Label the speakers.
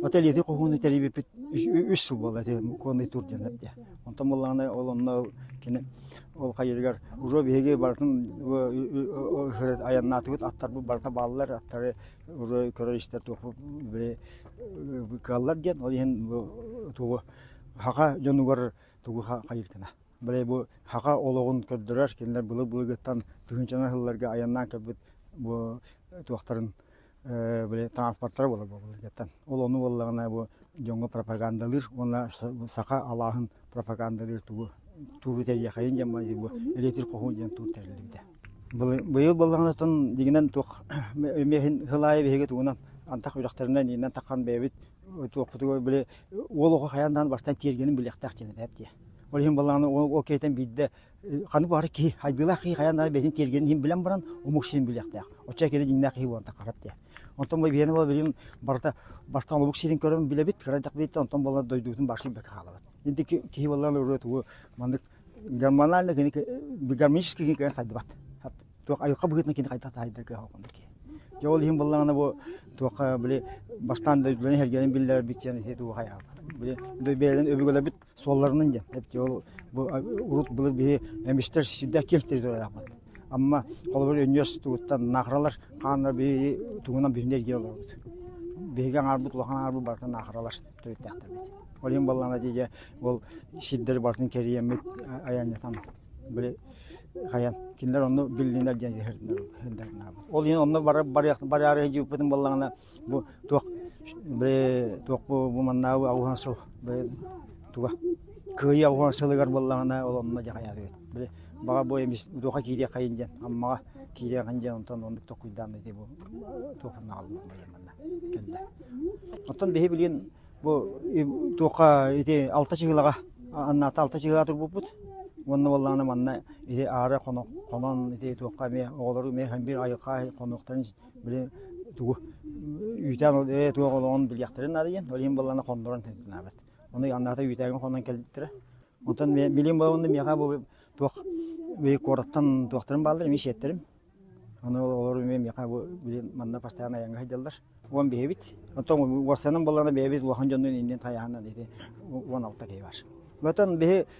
Speaker 1: Отель ити хоһууну тэрийбиппит үс сыл буолла ити муконный тур диэн эрдэ. Онтон буллаана ол онно кини ол хайырыгар уже биһиги бартын айаннаатыбыт аттарбыт барта бааллар аттары уже көрөр истэр туохпут били кыаллар диэн ол иһин бу тугу хаха дьонугар тугу хайыркана. Били бу хаха олоҕун көрдөрөр кинилэр былы-былыгыттан тыһынчана сылларга айаннаан кэлбит бу туохтарын били транспортара буолар буолар дьаттан ол ону буоллаҕына бу дьоҥҥо пропагандалыыр уонна саха алааһын пропагандалыыр тугу туру тэрийэхэйин диэн бу электр хоһу диэн тур тэриллибитэ быйыл боллаҕына тон дигинен туох эмиэһин хылаайы биһиги тугунан антах үрдөхтөрүнэн иннен такхан бэйэбит туохпутугар били уол оҕо хайандаан бастан тиэргенин билиэхтээх диэн этээптиэ ол иһин боллаҕына ол киэтен биирдэ ханы баары киһи хайгыылаах киһи хайан ара бэйэтин тиэргэнин иһин билэн баран омук сирин билиэхтээх оччо киһи дьиҥнээх киһи буолан тахарап диэ онтон бу биһиэнэ буола билин барыта бастан омук сирин көрөн билэбит кырайдах билиттэ онтон буолла дойдубутун башын бэкэ хаалабыт индики киһи буоллан ырыа тугу маннык гормональный кини гармонический кини кыйан сайдыбат туох айылка быһыытын кини хайдах таһайдар кыһа окунда ки же ол иһин буллаҕына бу туохха били бастаан дойдуларын хергенин биллэр бит сен ити туга хая били бэйэлин өбүгэлэрбит Суолларынан диэн. Эти ол бу урут былыр биһи эмистэр сирдэх киэҥ территориялаахпыт. Амма холобур өнүөс тугуттан нахралар хааннар биһи тугунан биһинди эргиэ олорбут. Биһиги аҥаарбыт улахан аҥаарбыт барытын нахралар төрүттээхтэрбит. Ол иһин баллана дии ол сирдэри барытын кэрийэммит айаннатан били хайан кинилэр онну билинер диэн иһэрдинер ол иһин онно барар барыары дьыыппытын баллана Бу туох туох бу маннааҕы аҕыһан сыл туга кыайыы аҕыһан сылыгар буоллаҕына ол онно дьаҕайаатыгыт. Били баҕа бу эмис дууха киириэххэйин диэн Аммаҕа киириэххин диэн онтон оннук токуйдаан ити бу туохпуна аҕаллым манна кэллэ. Оттон биһи билигин бу туохха ити алта чыгылаҕа аннаата алта чыгылаҕа турбуппут уонна буоллаҕына манна ити аары хонон ити туохха эмиэ оҕолору эмиэ ханбир айылҕа хонуохтарын били тугу үүтээн ол ээ туох олоҕун билиэхтэрин надыйан ол иһин баллана хондорон тэнтэнэбит оны аннаата үүтээгин хонон кэлбиттэрэ онтон билим балонда миэхэ бу туох бии куораттан туохтарын бааллар эми сиэттерим оны олор эмиэ миэхэ бу били манна бастаан айанга сылдьаллар уон биһэбит оттон уорсанын баллана бэйэбит улахан дьоннун иннин тайаһанан ити уон алта киһи бар Ватан биһи